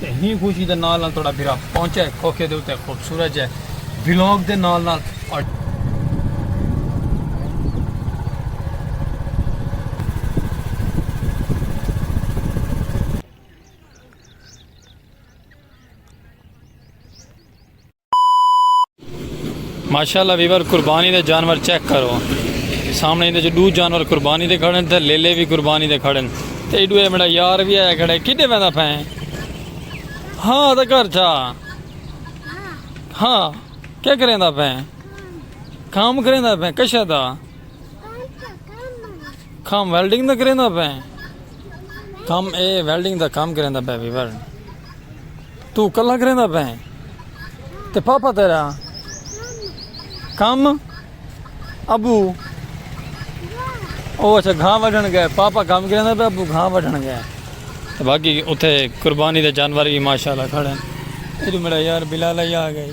تے ہی خوشی دے نال نال توڑا بھرا پہنچا ہے کھوکھے دے اتے خوبصورت جے بلاگ دے نال نال ماشاءاللہ ویور قربانی دے جانور چیک کرو سامنے اندے جو دو جانور قربانی دے کھڑن تے لیلے بھی قربانی دے کھڑن تے ایڈو اے میرا یار بھی آیا کھڑے کدے ویندا پھیں ہاں تے گھر چھا ہاں کیا کریندا پھیں کام کریندا پھیں کشا دا کام ویلڈنگ دا کریندا پھیں کام اے ویلڈنگ دا کام کریندا پھیں ویور توں کلاں کریندا پئیں تے پاپا تیڈا کم ابو او اچھا گھاں وڈھن گئے پاپا کم کریندا پئے ابو گھاں وڈھن گئے تے باقی اتھے قربانی دے جانور وی ماشاءاللہ کھڑے ہیں ادھر میڈا یار بلال آئی آ گئی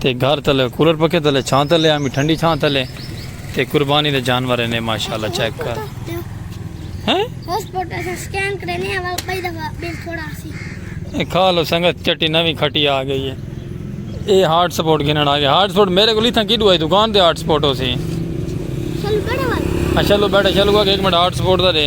تے گھر تلے کولر پکھے تلے چھاں تلے آمی ٹھنڈی چھاں تلے تے قربانی دے جانور نے ماشاءاللہ چیک کر ہیں پاسپورٹ ایسا سکین کرے نے اول کئی دفعہ بل تھوڑا سی کھا لو سنگت چٹی نوی کھٹی آ گئی ہے اے ہارڈ سپورٹ گھنن آ گیا ہارڈ سپورٹ میرے کو لیتھاں کی دوائی دکان دے ہارڈ سپورٹ ہو سی چلو بیٹھے والا ہاں، چلو بیٹھے چلو گا ایک منٹ ہارڈ سپورٹ دا دے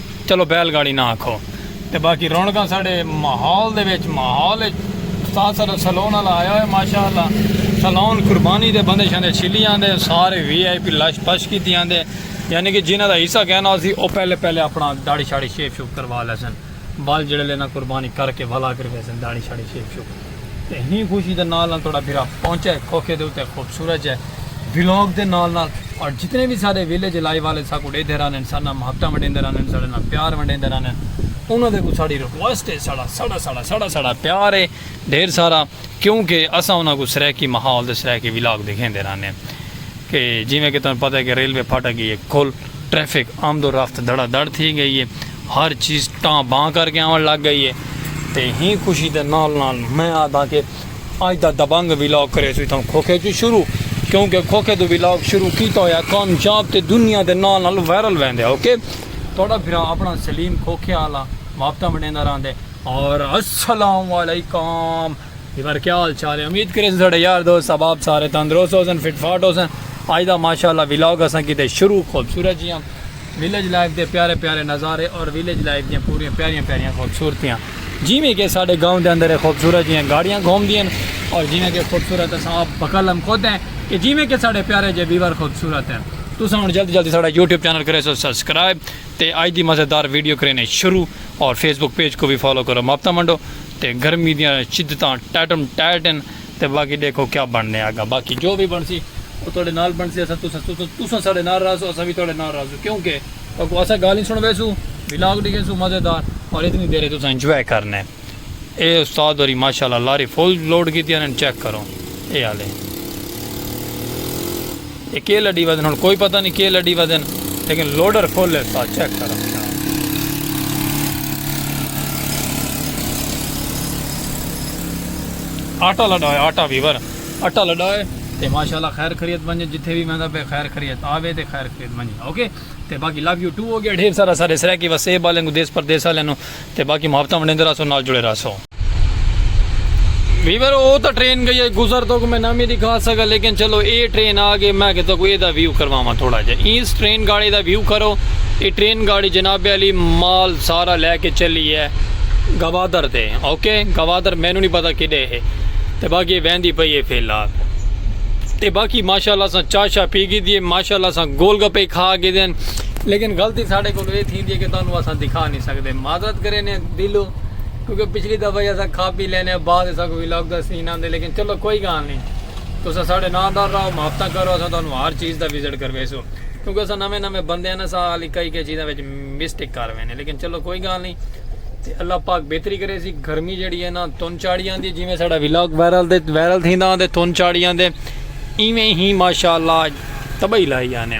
چلو بیل گاڑی نہ آکھو تے باقی رونقاں ساڈے ماحول دے وچ ماحول وچ استاد ساڈا سلون والا آیا ہوئے ماشاءاللہ سلون قربانی دے بندے شندے چھلی آندے سارے وی آئی پی لش پش کیتی آندے یعنی کہ جنہاں دا حصہ کہنا ہوسی او پہلے پہلے اپنا داڑھی شاڑھی شیپ شوپ کروا لیسن بال جڑے لینا قربانی کر کے ولا کر ویسن داڑھی شاڑھی شیپ شوپ تے ہی خوشی دے نال نال تہاڈا بھرا پہنچا ہے کھوکھے دے اتے خوبصورت جے ولاگ دے نال نال اور جتنے وی ساڈے ویلیج لائیو والے ساکوں ڈیدھے رہنن ساڈے نال محبتاں ونڈیندے رہنن ساڈے نال پیار ونڈیندے رہنن انہاں دے اگوں ساڈی ریکویسٹ ہے ساڈا ساڈا ساڈا ساڈا ساڈا پیار ہے ڈھیر سارا کیوں کہ اساں انہاں کوں سرائیکی ماحول تے سرائیکی ولاگ دکھیندے رہنے کہ جیویں کہ تہاڈوں پتہ ہے کہ ریلوے پھاٹک گئی ہے کھل ٹریفک آمد و رفت دھڑا دھڑ تھی گئی ہے ہر چیز ٹاں باں کر کے آون لگ گئی ہے تے ہیں خوشی دے نال نال میں آدھاں کے اج دا دبنگ ولاگ کریسوں اتھاں کھوکھے چوں شروع کیونکہ کھوکھے تو ولاگ شروع کیتا ہویا کامیاب تے دنیا دے نال نال وائرل ویندے اوکے تہاڈا بھرا اپنا سلیم کھوکھے آلا واپتاں ونڈیندا راہندے اور السلام علیکم جی مر کیا حال چال ہے امید کرے ساڈے یار دوست احباب سارے تندرست ہو سن فٹ فاٹ ہو سن اج دا ماشاءاللہ ولاگ اساں کیتے شروع خوبصورت جیاں ویلیج لائف دے پیارے پیارے نظارے اور ویلیج لائف دیاں پوری پیاریاں پیاریاں خوبصورتیاں جی میں کہ ساڈے گاؤں دے اندر خوبصورت جیاں گاڑیاں گھوم دیاں اور جی میں کہ خوبصورت اساں اپ بکلم خود ہیں کہ جی میں کہ ساڈے پیارے جے ویور خوبصورت ہیں تساں ہن جلدی جلدی ساڈا یوٹیوب چینل کرے سو سبسکرائب تے اج دی مزیدار ویڈیو کرینے شروع اور فیس بک پیج کو بھی فالو کرو ماپتا منڈو تے گرمی دیاں شدتاں ٹائٹم ٹائٹ ہن تے باقی ڈیکھو کیا بنڑنے آگا باقی جو وی بنڑسی او تہاڈے نال بنڑسی اساں تساں تساں تساں ساڈے نال راہسو اساں وی تہاڈے نال راہسوں کیوں کہ تہاکوں اساں گالھیں سنڑویسوں ولاگ ڈیکھیسوں مزے دار اور اتنی دیر تساں انجوائے کرنے اے استاد ہوری ماشاءاللہ لاری فل لوڈ کیتیاں ہن چیک کرو اے ہالے۔ اے کے لڈی ودن ہن کوئی پتہ نی کے لڈی ودن لیکن لوڈر کھولے سا چیک کر رکھیا آٹا لڈا ہے آٹا ویور آٹا لڈا ہے تے ماشاءاللہ خیر خریت بنجے جتھے بھی میں دا پہ خیر خریت آوے تے خیر خریت بنجے اوکے تے باقی لو یو ٹو ہو گیا ڈھیر سارا سارے سرے کی وسیب والے کو دیس پر دیس والے نو تے باقی محبتاں ونڈیندے رہسوں نال جڑے رہسوں۔ ویور او تاں ٹرین گئی اے گزر توکوں میں نامی دکھا سگا لیکن چلو اے ٹرین آ گئی میں کہ توکوں اے دا ویو کرواواں تھوڑا جیا اینس ٹرین گاڑی دا ویو کرو اے ٹرین گاڑی جناب علی مال سارا لے کے چلی اے گوادر تے اوکے گوادر مینوں نی پتہ کڈے ہے تے باقی اے ویندی پئی اے فی الحال تے باقی ماشاءاللہ اساں چاہ شاہ پی گھدی اے ماشاءاللہ اساں گول گپے کھا گھدے ہن لیکن غلطی ساڈے کولوں اے تھی تھیندی ہے کہ تہانوں اساں دکھا نی سگدے معذرت کرینے دلوں کیونکہ پچھلی دفعہ ہی اساں کھا پی لینے بعد اساں کوں ولاگ دا سین آندے لیکن چلو کوئی گال نی تساں ساڈے ناں دار راہو محبتاں کرو اساں تہانوں ہر چیز دا وزٹ کرویسوں کیونکہ اساں نویں نویں بندے ہن اساں ہالی کئی کئی چیزاں وچ مسٹیک کر وینے لیکن چلو کوئی گال نی تے اللہ پاک بہتری کرے سی گرمی جڑی ہے نا تن چاڑی آندی جویں ساڈا ولاگ وائرل دے وائرل تھیندا آندے تن چاڑی آندے ایویں ہی ماشاءاللہ تباہی لائی آنے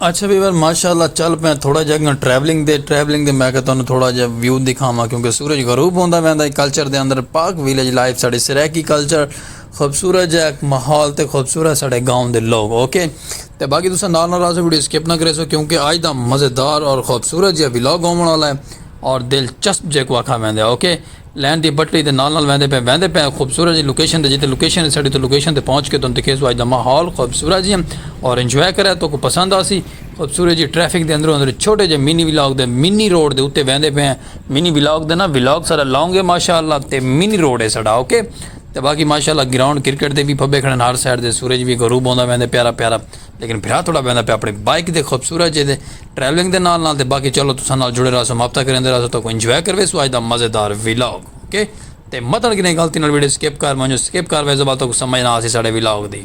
اچھا ویور ماشاءاللہ چل پے تھوڑا جا گن ٹریولنگ دے ٹریولنگ دے میں کہ تانوں تھوڑا جا ویو دکھاواں کیونکہ سورج غروب ہوندا ویندا ہے کلچر دے اندر پاک ویلیج لائف ساڈے سرائیکی کلچر خوبصورت جا ایک ماحول تے خوبصورت ساڈے گاؤں دے لوگ اوکے تے باقی تساں نال نال راہسو ویڈیو سکپ نہ کریسو کیونکہ آج دا مزیدار اور خوبصورت جا ولاگ ہووݨ والا ہے اور دلچسپ جیکو آکھا ویندا ہے اوکے لین دی پٹڑی دے نال نال ویندے پئے ویندے پئے خوبصورت جی لوکیشن تے جتے لوکیشن ہے ساڈی اتھے لوکیشن تے پہنچ کے تہن دکھیسوں اج دا ماحول خوبصورت جی ہم اور انجوائے کرے تہکوں پسند آسی خوبصورت جی ٹریفک دے اندروں اندر چھوٹے جے منی ولاگ دے منی روڈ دے اتے ویندے پئے منی ولاگ دے نا ولاگ سارا لانگ ہے ماشاءاللہ تے منی روڈ ہے ساڈا اوکے تے باقی ماشاءاللہ گراؤنڈ کرکٹ دے وی پھبے کھڑن ہر سائیڈ دے سورج وی غروب ہوندا ویندے پیارا پیارا۔ لیکن بھرا تھوڑا ویندا پیا اپنی بائیک دے خوبصورت جے دے ٹریولنگ دے نال نال تے باقی چلو تساں نال جڑے رہسوں مابطہ کریندے رہسوں تہاکوں انجوائے کرویسوں اج دا مزیدار ویلاگ اوکے تے متن کنیں غلطی نال ویڈیو سکپ کر ونجو سکپ کر ویسو بعد تہاکوں سمجھ نہ آسی ساڈے ویلاگ دی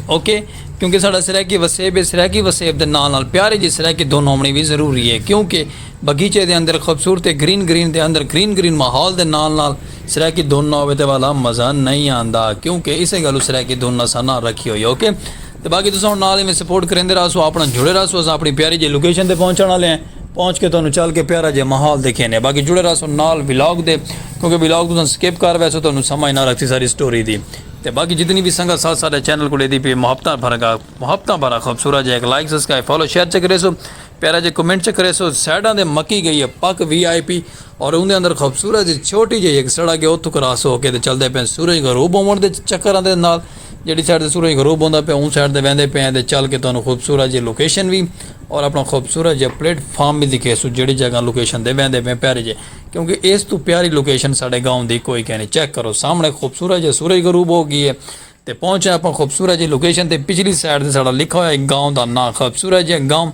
اوکے کیونکہ ساڈا سرائیکی وسیب ہے سرائیکی وسیب دے نال نال پیاری جی سرائیکی دھن ہوونڑی وی ضروری ہے کیونکہ بغیچے دے اندر خوبصورتے گرین گرین دے اندر گرین گرین ماحول دے نال نال سرائیکی دھن نہ ہووے تے والا مزہ نئیں آندا کیونکہ اسے گالوں سرائیکی دھن اساں نہ رکھی ہوئی اوکے تے باقی تساں ہن نال ایویں سپورٹ کریندے رہسو اپنڑاں جڑے رہسو اساں اپنڑی پیاری جی لوکیشن تے پہنچنڑ والے ہیں پہنچ کے تہانوں چل کے پیارا جیہا ماحول دکھیندے ہیں باقی جڑے رہسو نال ولاگ دے کیونکہ ولاگ تساں سکپ کر ویسو تہانوں سمجھ نہ لگسی ساری سٹوری دی۔ تے باقی جتنی وی سنگت ساتھ ساڈے چینل کوں ڈیندی پی اے محبتاں بھرا گا محبتاں بھرا خوبصورت جیہا ہک like subscribe follow share check کریسو پیارا جیہا کمنٹ چیک کریسو سائیڈاں تے مکی گئی اے پک وی آئی پی اور اوندے اندر خوبصورت جی چھوٹی جیہی ہک سڑک اے اوتھوں کراس ہو کے تے چلدے پئے سورج غروب ہوون دے چکراں دے نال جیہڑی سائیڈ تے سورج غروب ہوندا پیا اوں سائیڈ تے ویندے پئے تے چل کے تہانوں خوبصورت جیہی لوکیشن وی اور اپنا خوبصورت جیہا پلیٹ فارم وی دکھیسوں جیہڑی جگہ لوکیشن تے ویندے پئے پیارے جیہے کیونکہ ایس توں پیاری لوکیشن ساڈے گاؤں دی کوئی کینی چیک کرو سامنے خوبصورت جے سورج غروب ہو گی ہے تے پہنچے اپاں خوبصورت جے لوکیشن تے پچھلی سائیڈ تے ساڈا لکھا ہویا ہے گاؤں دا ناں خوبصورت جے گاؤں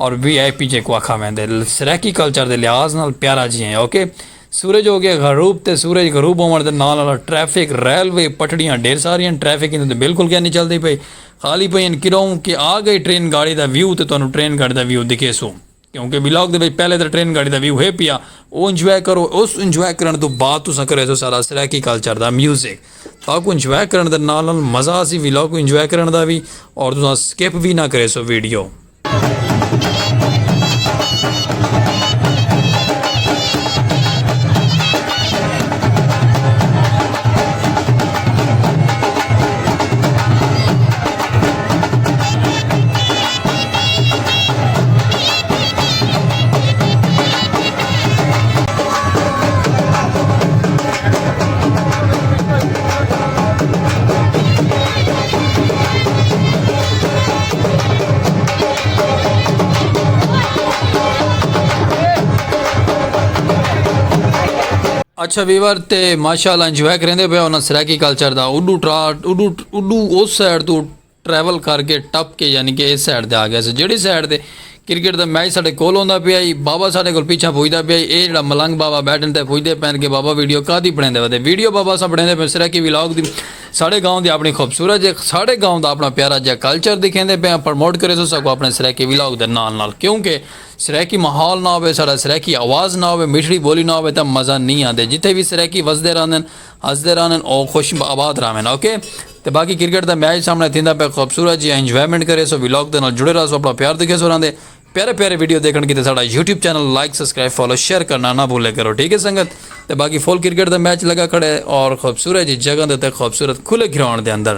اور وی آئی پی جے کو آکھا ویندے سرائیکی کلچر دے لحاظ نال پیارا جی ہیں اوکے سورج ہو گیا غروب تے سورج غروب ہوون دے نال نال ٹریفک ریلوے پٹڑیاں ڈھیر ساری ہیں ٹریفک ایندے تے بالکل کینی چلدی پئی خالی پئی ہیں کیوں کہ آ گئی ٹرین گاڑی دا ویو تے تانوں ٹرین گاڑی دا ویو دکھیسوں۔ کیونکہ ولاگ دے وچ پہلے تاں ٹرین گاڑی دا ویو ہے پیا او انجوائے کرو اس انجوائے کرن توں بعد تساں کریسو سارا سرائیکی کلچر دا میوزک تاکوں انجوائے کرن دے نال نال مزہ آسی ولاگ کوں انجوائے کرن دا وی اور تساں سکپ وی نہ کریسو ویڈیو۔ اچھا ویور تے ماشاءاللہ انجوائے کریندے پیا انہاں سرائیکی کلچر دا اڈو ٹراٹ اڈو اڈو اس سائیڈ تو ٹریول کر کے ٹپ کے یعنی کہ اس سائڈ تے آ گیا سے جیڑی سائڈ تے کرکٹ دا میچ ساڈے کول ہوندا پیا ہی بابا ساڈے کول پیچھا پوجدا پیا ہی اے جیڑا ملنگ بابا بیٹھن تے پوجدے پین کہ بابا ویڈیو کادی بنڑیندے وتے ویڈیو بابا اساں بنڑیندے پے سرائیکی ولاگ دی ساڈے گاؤں دی اپنی خوبصورت جے ساڈے گاؤں دا اپنا پیارا جیا کلچر دکھیندے پے آں پرموٹ کرے سو ساکو اپنے سرائیکی ولاگ دے نال نال کیوں کہ سرائیکی ماحول نہ ہوے ساڈا سرائیکی آواز نہ ہوے میٹھڑی بولی نہ ہوے تے مزہ نی آندے جتھے وی سرائیکی وسدے رہندن ہسدے رہن او خوش آباد رہون اوکے تے باقی کرکٹ دا میچ سامنے تھیندا پے خوبصورت جی انجوائمنٹ کریسو ولاگ دے نال جڑے رہسو اپنا پیار دکھیسو راندے پیارے پیارے ویڈیو دیکھن کیتے ساڈا YouTube channel like subscribe follow share کرنا نہ بھولے کرو ٹھیک ہے سنگت تے باقی فل کرکٹ دا میچ لگا کھڑے اور خوبصورت جی جگہ دے تے خوبصورت کھلے گراؤنڈ دے اندر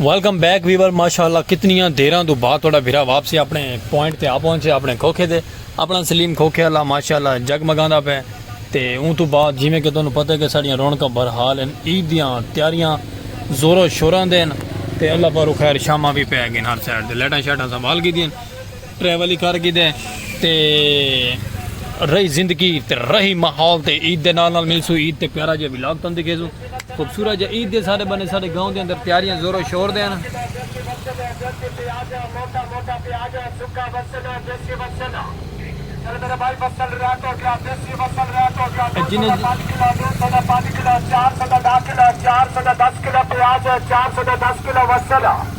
ویلکم بیک ویور ماشاءاللہ کتنیاں دیراں دو بعد تھوڑا بھرا واپسی اپنے پوائنٹ تے آ پہنچے اپنے کھوکھے دے اپنا سلیم کھوکھے اللہ ماشاءاللہ جگ مگاندا پے تے اون تو بعد جویں کہ تانوں پتہ ہے کہ ساڈیاں رونقاں بہرحال ہیں عید دیاں تیاریاں زور و شوراں دے ہیں تے اللہ پارو خیر شاماں بھی پے گئن ہر سائیڈ تے لائٹاں شائٹاں سنبھال گیدیاں ٹریول ہی کر گی دے تے رہی زندگی تے رہی ماحول تے عید دے نال نال مل سو عید تے پیارا جے ولاگ تن دکھے سو خوبصورت جے عید دے سارے بنے سارے گاؤں دے اندر تیاریاں زور و شور دے ہیں جن چار سو دس کلو پیاز چار سو دس کلو وسل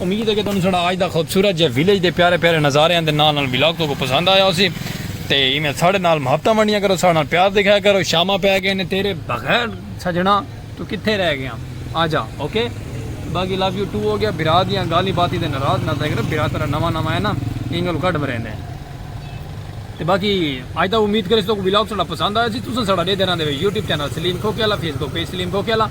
امید ہے کہ تہاڈوں ساڈا اج دا خوبصورت جے ویلیج دے پیارے پیارے نظاریاں دے نال نال ولاگ تہاکوں پسند آیا ہوسی تے ایویں ساڈے نال محبتاں ونڈیاں کرو ساڈے نال پیار دکھایا کرو شاماں پے گئے نے تیرے بغیر سجنا تو کتھے رہ گیا آجا اوکے باقی لو یو ٹو ہو گیا برا دیاں گالی باتیں تے ناراض نہ تھے کرو برا تیرا نواں نواں ہے نا اینگل کڈ مریندے تے باقی اج دا امید کرے تو ولاگ ساڈا پسند آیا سی تساں ساڈا دے دینا دے یوٹیوب چینل سلیم کھوکے والا فیس بک پیج سلیم کھوکے والا